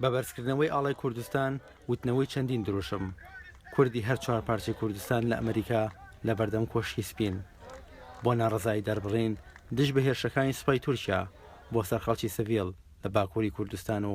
بە بەرزکردنەوەی ئاڵای کوردستان وتنەوەی چەندین دروشم کوردی هەر چوار پارچەی کوردستان لە ئەمریکا لە بەردەم کۆشکی سپین بۆ ناڕزایی دەربڕین دژ بە هێرشەکانی سوپای تورکیا بۆ سەر خەڵکی سڤیل لە باکووری کوردستان و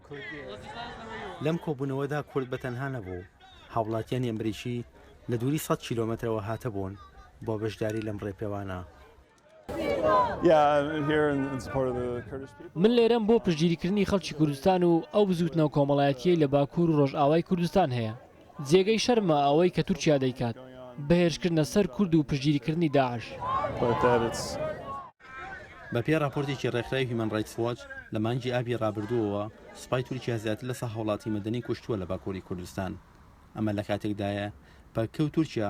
لەم کۆبوونەوەدا کورد بە تەنها نەبوو، هاوڵاتیانی ئەمریکی لە دووری سەد کیلۆمەترەوە هاتبوون بۆ بەشداری لەم ڕێپێوانە. من لێرەم بۆ پشتگیریکردنی خەڵکی کوردستان و ئەو بزووتنەوە کۆمەڵایەتییەی لە باکوور و ڕۆژئاوای کوردستان هەیە. جێگەی شەرمە ئەوەی کە تورکیا دەیکات، بە هێرشکردنە سەر کورد و پشتگیریکردنی داعش. بەپێی ڕاپۆرتێکی ڕێکخراوی هیومەن ڕایتس واچ، لە مانگی ئابی ڕابردووەوە سوپای تورکیا زیاتر لە سەد هاوڵاتی مەدەنی کوشتووە لە باکووری کوردستان. ئەمە لە کاتێکدایە، پەککە و تورکیا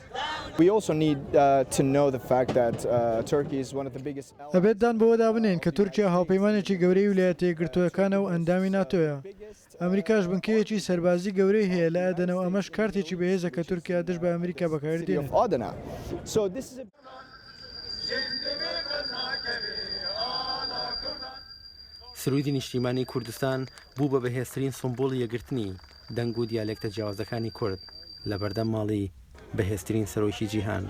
ئەبێت دان بەوەدا بنێین کە تورکیا هاوپەیمانێکی گەورەی ویلایەتە یەکگرتووەکانە و ئەندامی ناتۆیە، ئەمریکاش بنکەیەکی سەربازی گەورەی هەیە لە ئەدەنە و ئەمەش کارتێکی بەهێزە کە تورکیا دژ بە ئەمریکا بەکاری دێنێت. سروودی نیشتیمانی کوردستان بوو بە بەهێزترین سومبوڵی یەکگرتنی. دەنگ و دیالێکتە جیاوازەکانی کورد لە بەردەم ماڵی بەهێزترین سەرۆکی جیهان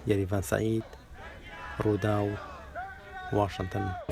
یەریڤان سەعید، رووداو، واشنتن.